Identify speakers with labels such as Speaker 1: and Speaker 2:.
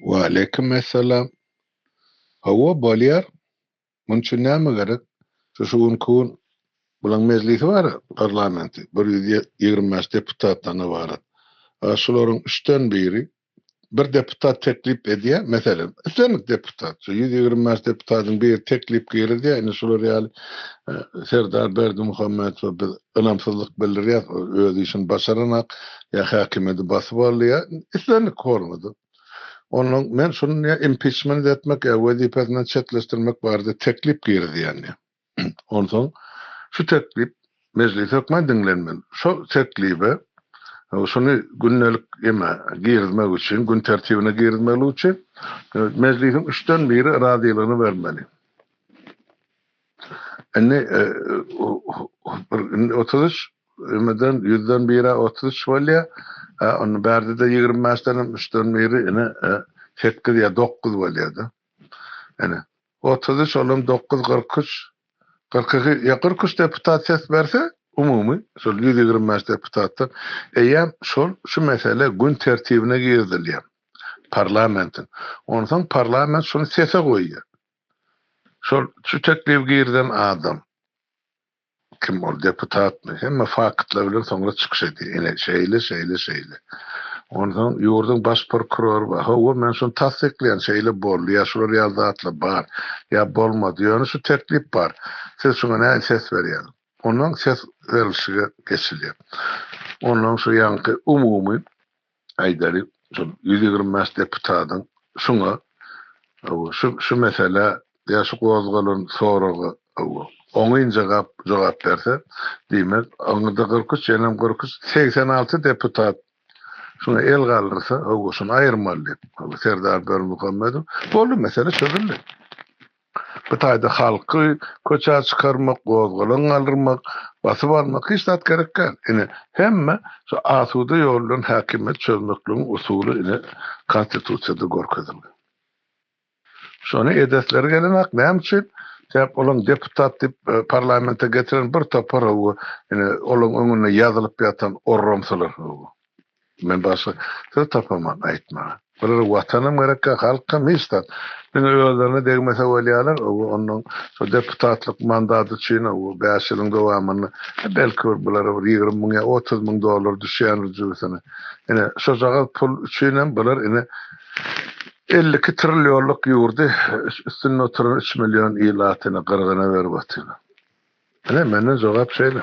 Speaker 1: Waleýkim essalam. Hawa bolýar. Munuň üçin näme gerek? Şu şu günki gün bulaň mejlisi bar parlamenti bir ýüz ýigrimi bäş deputatdan ybarat. A şularyň üçden biri bir deputat teklip edýär, meselem, islendik deputat, şu ýüz ýigrimi bäş deputadyň biri teklip girizýär, indi şular ýaly Serdar Berdimuhamedowa biz ynamsyzlyk bildirýäs, ol öz işini başaranak, ýa häkimiýeti basyp aldy, ýa islendik formada. Onda men şuny impiçment etmek ýa wezipesinden çetleşdirmek barada teklip girizýän diýýär. Onsoň şu teklip Mejlis hökmän diňlenmeli. Şo teklibe, şuny gündelik eme girizmek üçin, gün tertibine girizmeli üçin Mejlisiň üçden biri razylygyny bermeli. Indi otuz üç emeden ýüzden bir-ä otuz üç bolýar. Onda bärde-de ýigrimi bäşdenem üçden biri ine, sekkiz ýa dokuz bolýar-da. Ine, Otuz üç, olam dokuz, kyrk üç, kyrk iki, ýa kyrk üç deputat ses berse, umumy şol ýüz ýigrimi bäş deputatdan, eýýäm şol şu mesele gün tertibine girizilýär parlamentiň. Onsoň parlament şuny sese goýýar. Şol şu teklibi girizen adam. Kim ol deputatmy? Hemme faktlar bilen soňra çykyş edýär. Ine, şeýle, şeýle, şeýle. Onsoň ýurduň baş prokurory bar. Hawa, men şuny tassyklaýan, şeýle boldy, ýa şular ýaly zatlar bar, ýa bolmady. Ýöne şu teklip bar. Siz şuňa nähili ses berýäňiz? Onsoň ses berilişige geçilýär. Onsoň şu ýaňky umumy aýdaly, şol ýüz ýigrimi bäş deputadyň şuňa, hawa, şu, şu meselä ýa şu gozgalan soraga, hawa, oňyn jogap, jogap berse, diýmek, oňa-da kyrk üç, ýeňem kyrk üç, segsen alty deputat şuňa el galdyrsa, hawa, şuny aýyrmaly diýip, hawa, Serdar Berdimuhamedow, boldy, mesele çözüldi. Bu taýda halky köçä çykarmak, gozgalaň galdyrmak, basyp almak hiç zat gerek däl. Ine, hemme şu asuda ýol bilen häkimiýet çözmekligiň usuly ine Konstitusiýada görkezilgen. Şony edesleri gelenak, näme üçin? Sebäp olaň deputat diýip parlamente getiren bir topar hawa, ine, olaň öňünde ýazylyp ýatan orramsylar hawa. Men başga söz tapaman aýtmaga. Bulara Watanam gerekkä, halkam hiç zat. Diňe özlerine degmese bolýarlar, owo onnoň şo deputatlyk mandaty üçin owo bäş ýylyň dowamynda belki bir bulara bir ýigrimi müň ýa otuz müň dollar düşýändir jübüsine. Ine, şojagaz pul üçinem bular ine elli iki trillionlyk ýurdy üstünde oturan üç million ilaty ine gyrgyna berip atyrlar. Ine, menden jogap şeýle.